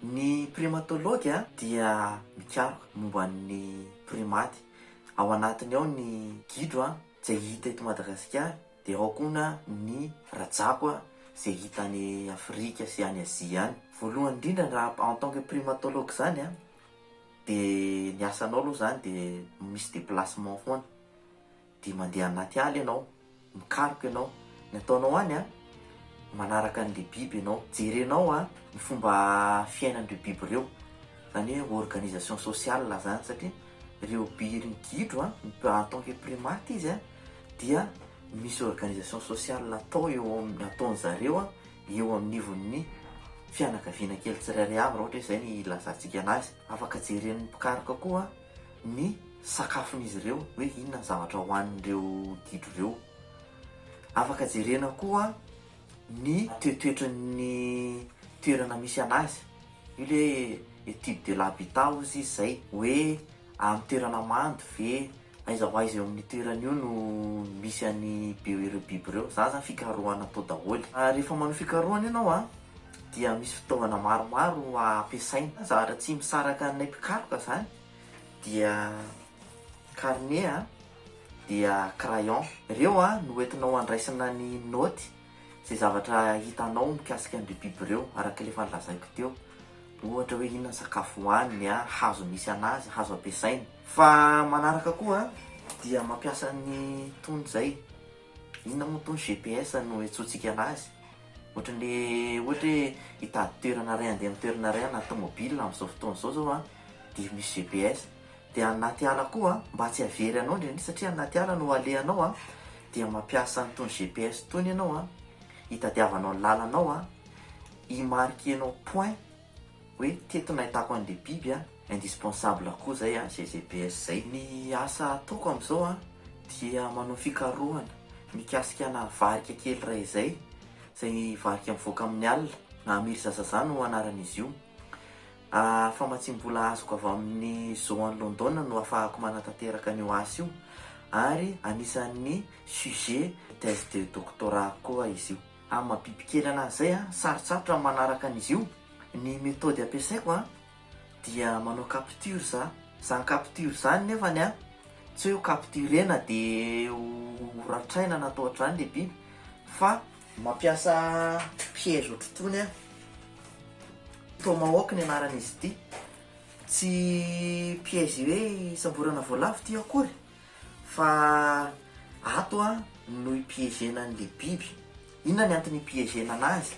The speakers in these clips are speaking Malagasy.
Ny primatology dia mikaroka momba ny primaty. Ao anatiny ao ny gidro izay hita eto Madagasikara, dia ao koa ny rajako izay hita any Afrika sy any Azia any. Voalohany indrindra raha en tant que primatologue izany a! De ny asanao aloha zany de misy déplacement foana, de mandeha anaty ala ianao, mikaroka ianao, ny ataonao any a, manaraka an'le biby ianao, jerenao a ny fomba fiainan'ireo biby ireo, zany hoe organisation sociale zany satria reo bi- ry gidro a en tant que primate izy a dia misy organisation sociale atao eo am- ataon'zareo a eo amin'ivon'ny fianakaviana kely tsirairay avy, raha ohatra hoe izay ny ilazantsika anazy. Afaka jeren'ny mpikaroka koa ny sakafon'izy ireo, hoe inona ny zavatra hohanin'ireo gidro ireo. Afaka jerena koa ny toetoetry ny toerana misy anazy. Io le étude de l'habitat hozy izy izay, hoe amin'ny toerana mando ve, Aiza ho aiza eo amin'io toerana io no misy an'i Beo ireo biby ireo? Za zany fikarohana atao daholo. Rehefa manao fikarohana ianao a, dia misy fitaovana maromaro ampiasaina. Zavatra tsy misaraka anay mpikaroka zany dia carnet a, dia crayon. Ireo a no entinao andraisana ny naoty izay zavatra hitanao mikasika an'ireo biby ireo, araka ilay efa nolazaiko teo, ohatra hoe inona ny sakafo hohaniny, hazo misy an'azy, hazo ampiasainy. Fa manaraka koa dia mampiasa ny tony izay, inona moa tony, GPS no iantsoantsika an'azy, ohatran'ny ohatra hoe hitady toerana iray handeha amin'ny toerana iray na tomobile amin'izao fotoana izao zao dia misy GPS. dia anaty ala koa mba tsy havery anao ndreny satria anaty ala no alehanao dia mampiasa an'itony GPS itony ianao hitadiavanao lalana ao hi marquer nao point hoe teto nahitako an'le biby a, indispensable koa zay ze GPS zay. Ny asa ataoko amzao a dia manao fikarohana mikasika ana varika kely iray izay, izay varika mivoaka amin'ny alina na Amir Zazaza no anaran'izy io, A Famatsiam-bola azoko avy amin'ny Zoo any Londona no afahako manatanteraka an'io asa io ary anisan'ny sujet thèse de doctorat-ko koa izy io. Amin'ny maha biby kely anazy izay, sarotsarotra ny manaraka an'izy io. Ny methode ampiasaiko dia manao capture za. Izany capture izany nefany tsy hoe ho capturena dia ho ratraina na atao ohatr'izany ilay biby fa Mampiasa piège otrtony an. Tomahawk ny anaran'izy ity. Tsy piège hoe hisamborana voalavo ity akory fa ato an no hi-piégena an'ilay biby. Inona ny antony hi-piégena anazy?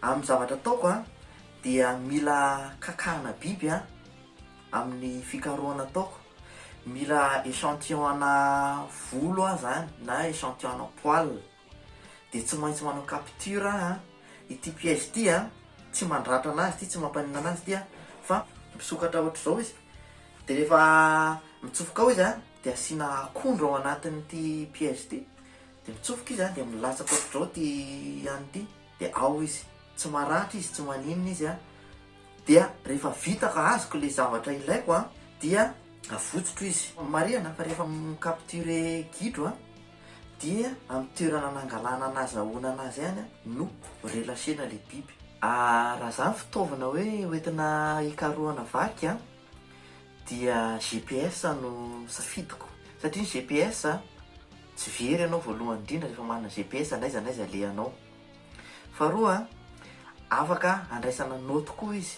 Amin'ny zavatra ataoko an dia mila kakana biby an amin'ny fikarohana ataoko. Mila échantillon-na volo aho zany na échantillon-na poils. dia tsy maintsy manao capture aho ity piège ity an, tsy mandratra anazy ity, tsy mampaninona anazy ity an, fa misokatra ohatr'izao izy, dia rehefa mitsofoka ao izy an, dia asiana akondro ao anatin'ity piège ity, dia mitsofoka izy an, dia milatsaka ohatr'izao ity an'ny ity, dia ao izy, tsy maratra izy, tsy maninona izy an, dia rehefa vita ka azoko ilay zavatra ilaiko an, dia avotsotro izy, marihana fa rehefa mi-capturer gidro an. Dia amin'ny toerana nangalana na nazahoana anazy ihany no relâcher-na ilay biby. Raha izany fitaovana hoe hoentina hikarohana vaky an, dia GPS no safidiko. Satria ny GPS tsy very ianao voalohany indrindra rehefa manana GPS na aiza na aiza alehanao. Faharoa an, afaka andraisana naute koa izy.